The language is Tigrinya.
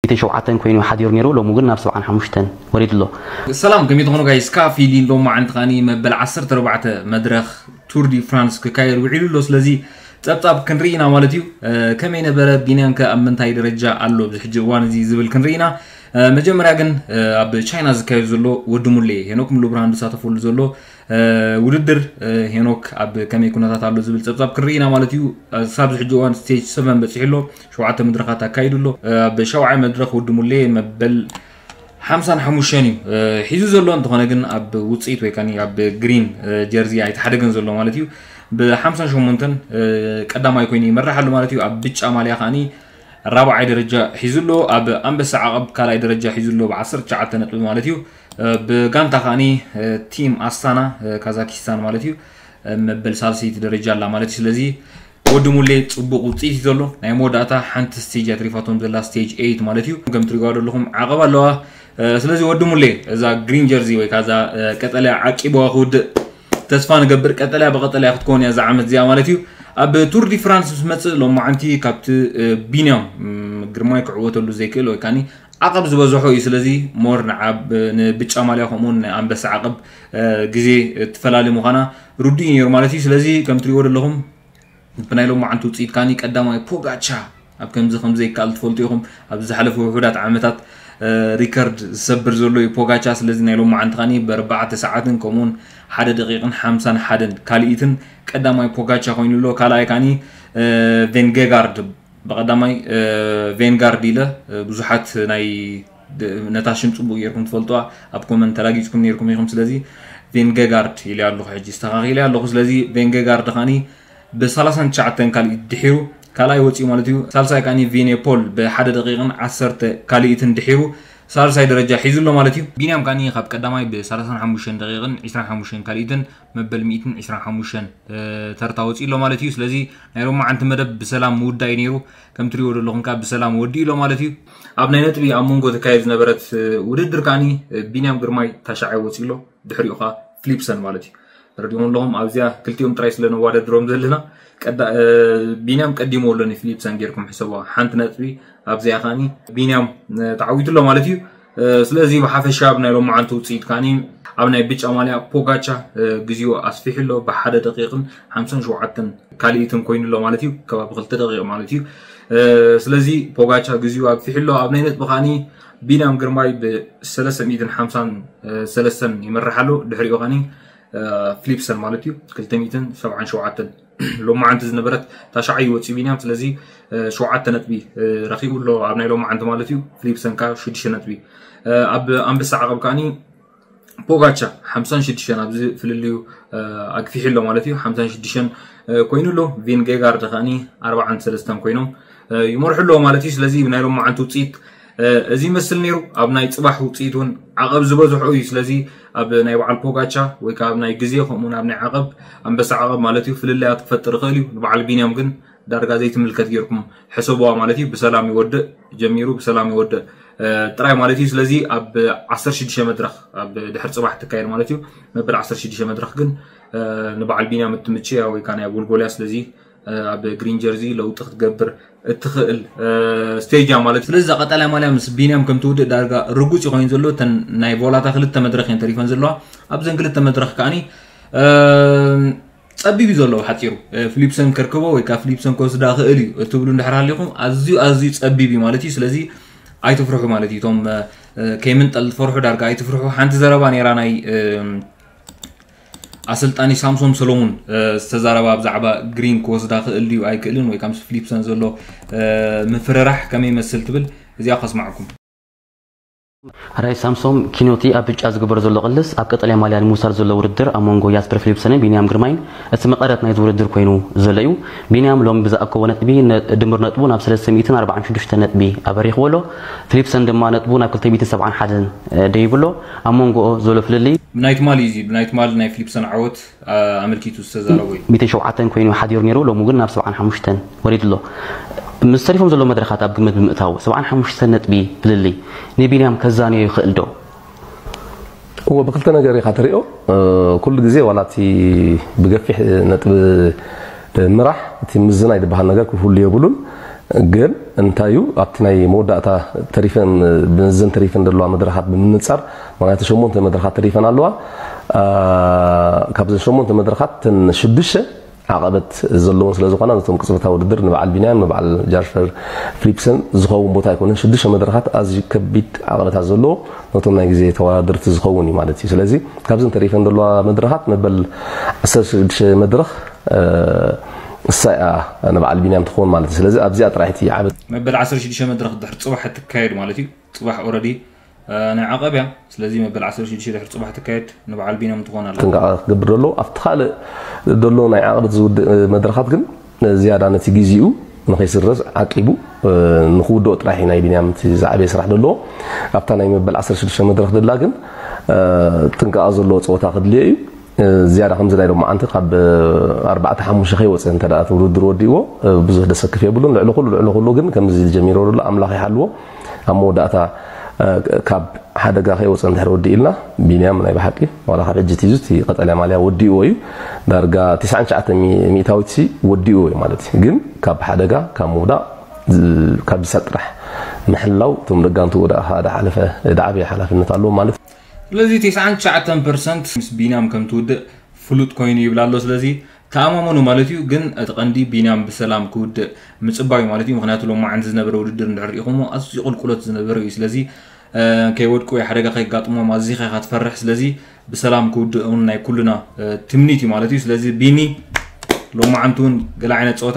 ሚእትን ሸውዓተን ኮይኑ ሓዲሩ ኔሩ ሎሚ ግን ናብ ሰብዓን ሓሙሽተን ወሪዱ ኣሎ። ሰላም ከመይ ትኾኑ ጋይስ ካፊሊ ሎማዓንቲ ካኒ መበል ዓሰርተ ኣርባዕተ መድረኽ ቱር ዲ ፍራንስ ክካየድ ዊዒሉ ኣሎ ስለዚ ጸብጻብ ክንሪኢ ኢና ማለት እዩ ከመይ ነበረ ቢንያን ከ ኣብ ምንታይ ደረጃ ኣሎ ኣብዚ ሕጂ እዋን እዚ ዝብል ክንሪኢ ኢና መጀመርያ ግን ኣብ ቻይና ዝካየድ ዘሎ ወዲ ሙሌ ሄኖክ ሙሉ ብርሃን ዝሳተፈሉ ዘሎ ውድድር ሄኖክ ኣብ ከመይ ኩነታት ኣሎ ዝብል ጸብጻብ ክንሪኢ ኢና ማለት እዩ ሳብ እዚ ሕጂ እዋን ስቴጅ 7 በጺሑ ኣሎ ሸውዓተ መድረኻት ኣካይዱ ኣሎ። ኣብ ሻውዓይ መድረኽ ውዲ ሙሌ መበል ሓምሳን ሓሙሽተን እዩ ሒዙ ዘሎ። እንተኾነ ግን ኣብ ውፅኢት ወይ ከኒ ኣብ ግሪን ጀርዚ ኣይተሓደገን ዘሎ ማለት እዩ። ብሓምሳን ሸሞንተን ቀዳማይ ኮይኑ ይመራሕ ኣሎ ማለት እዩ። ኣብ ብጫ ማልያ ከዓኒ ራብዓይ ደረጃ ሒዙ ኣሎ። ኣብ ኣንበሳ ዓቐብ ካልኣይ ደረጃ ሒዙ ኣሎ ብዓሰርተ ትሽዓተ ነጥቢ ማለት እዩ። ብጋንታ ከዓኒ ቲም ኣስታና ካዛኪስታን ማለት እዩ መበል ሳልሰይቲ ደረጃ ኣላ ማለት እዩ። ስለዚ ወዲ ሙሌ ጽቡቅ ውጽኢት እዩ ዘሎ ናይ መወዳእታ ሓንቲ ስቴጅ ኣትሪፋቶም ዘላ ስቴጅ ኤይት ማለት እዩ ከም ትሪጓ ዘለኹም ዓቐብ ኣለዋ ስለዚ ወዲ ሙሌ እዛ ግሪን ጀርዚ ወይ ካዛ ቀጠልያ ዓቂብዋ ክውድእ ተስፋ ንገብር ቀጠልያ ብቀጠልያ ክትከውን እያ እዛ ዓመት እዚኣ ማለት እዩ ኣብ ቱር ዲ ፍራንስ ምስ መጽእ ሎማዓንቲ ካብቲ ቢንያም ግርማይ ክዕወተሉ ዘይክእል ወይ ካኒ ዓቐብ ዝበዝሖ እዩ ስለዚ ሞር ንብጫ ማልያ ከምኡውን ኣንበሳ ዓቐብ ግዜ ትፈላሊ ምዃና ርዱእ እዩ ነይሩ ማለት እዩ ስለዚ ከም ትሪእዎ ዘለኹም ብናይ ሎማዓንቲ ውፅኢት ካኒ ቀዳማይ ፖጋቻ ኣብ ከምዚ ከምዘይከኣል ትፈልጡ ኢኹም ኣብዚ ዝሓለፉ ውሑዳት ዓመታት ሪከርድ ዝሰብር ዘሎ እዩ ፖጋቻ ስለዚ ናይ ሎም መዓንቲ ኸኒ ብኣርባዕተ ሰዓትን ከምኡውን ሓደ ደቂቕን ሓምሳን ሓደን ካልኢትን ቀዳማይ ፖጋቻ ኮይኑ ኣሎ ካልኣይ ካኒ ቬንጌጋርድ ብቀዳማይ ቬንጋርድ ኢለ ብዙሓት ናይ ነታ ሽም ጽቡቅ ጌርኩም ትፈልጡዋ ኣብ ኮመንት ተራጊጽኩም ኔርኩም ኢኹም ስለዚ ቬንገጋርድ ኢለ ኣለኹ ሕጂ ኣስተኻኺለ ኣለኹ ስለዚ ቬንገጋርድ ኻኒ ብ 39 ካልኢት ድሒሩ ካልኣይ ወጺኡ ማለት እዩ ሳልሳይ ካኒ ቪኔፖል ብ ሓደ ደቂቕን ዓሰርተ ካልኢትን ድሒሩ ሳልሳይ ደረጃ ሒዙ ኣሎ ማለት እዩ ቢንያም ካኒ ካብ ቀዳማይ ብ 35 ደቂቕን 25 ካልኢትን መበል 125 ተርታ ወጺኡ ኣሎ ማለት እዩ ስለዚ ናይ ሎማዓንቲ መደብ ብሰላም ምውዳእ እዩ ኔሩ ከም ትሪእዎ ዘለኹም ከኣ ብሰላም ወዲኡ ኣሎ ማለት እዩ ኣብ ናይ ነጥቢ ኣብ መንጎ ተካየድ ዝነበረት ውድድር ከዓኒ ቢንያም ግርማይ ታሻዓይ ወፂኡ ኣሎ ድሕሪኡ ከዓ ፍሊፕሰን ማለት እዩ ተረዲኹም ኣለኹም ኣብዚኣ ክልቲኦም ጥራይ ስለ ነዋዳድሮም ዘለና ቢንያም ቀዲሞ ኣሎ ንፍሊፕሰን ጌርኩም ሕሰቦ ሓንቲ ነጥቢ ኣብዚኣ ከዓኒ ቢንያም ተዓዊቱ ኣሎ ማለት እዩ ስለዚ ብሓፈሻ ኣብ ናይ ሎማዓንቲ ውፅኢት ካኒ ኣብ ናይ ብጫ ማልያ ፖጋቻ ግዜኡ ኣስፊሑ ኣሎ ብሓደ ደቂቕን ሓምሳን ሸውዓተን ካልኢትን ኮይኑ ኣሎ ማለት እዩ ከባቢ ክልተ ደቂቕ ማለት እዩ ስለዚ ፖጋቻ ግዜኡ ኣግፊሑ ኣሎ ኣብ ናይ ነጥቢ ካኒ ቢንያም ግርማይ ብሰለስተ ሚእትን ሓምሳን ሰለስተን ይመርሕ ኣሎ ድሕሪኡ ካኒ ፍሊፕሰን ማለት እዩ ክልተ ሚእትን ሰብዓን ሸውዓተን ሎማዓንቲ ዝነበረት ታሽዓይ እዩ ወፂኡ ቢንያም ስለዚ ሸውዓተ ነጥቢ ረኪቡ ኣሎ ኣብ ናይ ሎማዓንቲ ማለት እዩ ፍሊፕሰን ከዓ ሽዱሽተ ነጥቢ ኣብ ኣንበሳ ዓቐብ ከዓኒ ፖጋቻ ሓምሳን ሽዱሽተን ኣብዚ ፍልልዩ ኣግፊሑ ኣሎ ማለት እዩ ሓምሳን ሽዱሽተን ኮይኑ ኣሎ ቪንጌጋርድ ከዓኒ ኣርባዓን ሰለስተን ኮይኖም ይመርሑ ኣለዎ ማለት እዩ ስለዚ ናይ ሎማዓንቲ ውፅኢት እዚ ይመስል ነይሩ ኣብ ናይ ፅባሕ ውፅኢት እውን ዓቐብ ዝበዝሖ እዩ ስለዚ ኣብ ናይ በዓል ፖጋቻ ወይ ከዓ ኣብ ናይ ግዜ ከምኡውን ኣብ ናይ ዓቐብ ኣንበሳ ዓቐብ ማለት እዩ ፍልልያት ክፈጥር ይኽእል እዩ ንበዓል ቢንያም ግን ዳርጋ ዘይትምልከት ጌርኩም ሕሰቡዋ ማለት እዩ ብሰላም ይወድእ ጀሚሩ ብሰላም ይወድእ ጥራይ ማለት እዩ ስለዚ ኣብ 16 መድረኽ ኣብ ድሕሪ ፅባሕ ትካየድ ማለት እዩ መበል 16 መድረኽ ግን ንበዓል ቢንያም እትምችያ ወይ ከዓ ናይ ጎልጎልያ ስለዚ ኣብ ግሪን ጀርዚ ለውጢ ክትገብር እትኽእል ስቴጅ እያ ማለት ስለዚ እዛ ቀጠልያ ማልያ ምስ ቢንያም ከም ትውድእ ዳርጋ ርጉፅ እዩ ኮይኑ ዘሎ እተን ናይ ቮላታ ክልተ መድረኽ እየን ተሪፈን ዘለዋ ኣብዘን ክልተ መድረኽ ከዓኒ ጸቢብ እዩ ዘለዎ ሓፂሩ ፍሊፕሰን ከርክቦ ወይ ከዓ ፍሊፕሰን ክወስዳ ክእል እዩ እትብሉ እንድሕር ሃሊኹም ኣዝዩ ኣዝዩ ጸቢብ እዩ ማለት እዩ ስለዚ ኣይትፍርሑ ማለት እዩ እቶም ከይምንጠል ዝፈርሑ ዳርጋ ኣይትፍርሑ ሓንቲ ዘረባ ነይራ ናይ ኣሰልጣኒ ሳምሶም ሰሎሙን ዝተዛረባ ብዛዕባ ግሪን ክወስዳ ክእል ድዩ ኣይክእልን ወይ ምስ ፍሊፕሰን ዘሎ ምፍርራሕ ከመይ ይመስል ትብል እዚኣ ከስማዕኩም ራይ ሳምሶም ኪኖቲ ኣብ ብጫ ዝግበር ዘሎ ቅልስ ኣብ ቀጠልያ ማልያ ንምውሳድ ዘሎ ውድድር ኣብ መንጎ ያስፐር ፊሊፕሰንን ቢንያም ግርማይን እቲ መቐረት ናይዚ ውድድር ኮይኑ ዘሎ እዩ። ቢንያም ሎሚ ብዝኣከቦ ነጥቢ ድምር ነጥቡ ናብ ሰለስተ ሚእትን ኣርባዓን ሽዱሽተን ነጥቢ ኣበሪኽዎ ኣሎ። ፊሊፕሰን ድማ ነጥቡ ናብ ክልተ ሚእትን ሰብዓን ሓደን ደይቡ ኣሎ። ኣብ ሞንጎኦ ዘሎ ፍልልይ። ብናይ ትማል እዩ እዚ ብናይ ትማል ናይ ፍሊፕሶን ዓወት ኣመልኪቱ ዝተዛረቦ እዩ። ሚእትን ሸውዓተን ኮይኑ እዩ ሓዲሩ ነይሩ ሎሚ ግን ናብ ሰብዓን ሓሙሽተን ወሪዱ ኣሎ። ምስ ተሪፎም ዘለዉ መድረኻት ኣብ ግምት ብምእታው ሰብዓን ሓሙሽተን ነጥቢ ፍልልይ ንቢንያም ከዛንዮ ይኽእል ዶ? እወ ብክልተ ነገር ኢኻ ትሪኦ ኩሉ ግዜ ዋላ እቲ ብገፊሕ ነጥቢ ምራሕ እቲ ምዝናይ ድበሃል ነገር ክህሉ የብሉን ግን እንታይ እዩ ኣብቲ ናይ መወዳእታ ተሪፈን ብዘን ተሪፈን ዘለዋ መድረኻት ብምንጻር ምክንያቱ ሸሞንተ መድረኻት ተሪፈን ኣለዋ ካብዘን ሸሞንተ መድረኻት ተን ሽዱሽተ ዓቐበት ዘለዎን ስለ ዝኾና ነቶም ቅጽበታዊ ውድድር ንበዓል ቢንያም ንበዓል ጃሽፈር ፍሊፕሰን ዝኸውን ቦታ ኣይኮነን ሽዱሽተ መድረኻት ኣዝዩ ከቢድ ዓቐበታት ዘለዎ ነቶም ናይ ግዜ ተወዳደርቲ ዝኸውን እዩ ማለት እዩ ስለዚ ካብዘን ተሪፈን ዘለዋ መድረኻት መበል ዓሰርተ ሽዱሽተ መድረኽ እሳ እያ ንበዓል ቢንያም ትኸውን ማለት እዩ ስለዚ ኣብዚኣ ጥራሕ እቲ ዓብ መበል ዓሰርተ ሽዱሽተ መድረኽ ድሕሪ ጽባሕ እትካየድ ማለት እዩ ጽባሕ ኦረዲ ናይ ዓቐብ እያ ስለዚ መበል ዓሰርተ ሽዱሽተ ድሕሪ ጽባሕ ትካየድ ንበዓል ቢንያም ትኾን ኣላ ጥንቃቐ ክገብር ደሎ ኣብቲ ካልእ ደሎ ናይ ዓቕብ ዝውድእ መድረኻት ግን ዝያዳ ነቲ ግዜኡ ንኸይስረዝ ዓቂቡ ንክውድኦ ጥራሕ እዩ ናይ ቢንያም እቲ ዝዓበየ ስራሕ ደለዎ ኣብታ ናይ መበል ዓሰርተ ሽዱሽተ መድረኽ ደላ ግን ጥንቃቐ ዘለዎ ጸወታ ክድልዮ እዩ ዝያዳ ከምዚ ናይ ሎምዓንቲ ካብ ኣርባዕተ ሓሙሽተ ከይወጸ እንተ እቲ ውድድር ወዲእዎ ብዙሕ ደሰክፍ የብሉን። ልዕሊ ኩሉ ልዕሊ ኩሉ ግን ከምዚ ጀሚሮ ዘሎ ኣምላኽ ይሓልዎ ኣብ መወዳእታ ካብ ሓደጋ ከይወጸ እንድሕር ወዲእልና ቢንያም ናይ ብሓቂ ዋላ ካብ ሕጂ ትይዙ እቲ ቀጠልያ ማልያ ወዲእዎ እዩ ዳርጋ ትስዓን ትሽዓተ ሚእታዊት ሲ ወዲእዎ እዩ ማለት እዩ ግን ካብ ሓደጋ ካብ ምውዳቕ ካብ ዝሳጥ ጥራሕ ምሕላው እቶም ደጋንቱ ወደ ሓደ ሓለፈ ደዓበየ ሓላፍነት ኣለዎ ማለት ስለዚ ተስዓን ትሽዓተን ፐርሰንት ምስ ቢንያም ከም ትውድእ ፍሉጥ ኮይኑ ይብል ኣሎ ስለዚ ተኣማመኑ ማለት እዩ ግን እቲ ቀንዲ ቢንያም ብሰላም ክውድእ ምጽባዩ ማለት እዩ ምክንያቱ ሎማዓንቲ ዝነበረ ውድድር እንድሕር ሪኢኹሞ ኣዝዩ ቁልቁሎት ዝነበረ እዩ ስለዚ ከይወድቁ ወይ ሓደጋ ከይጋጥሞም ኣዚኻ ኢኻ ትፈርሕ ስለዚ ብሰላም ክውድእ እውን ናይ ኩሉና ትምኒት እዩ ማለት እዩ ስለዚ ቢኒ ሎማዓንቲ እውን ገለ ዓይነት ጸወታ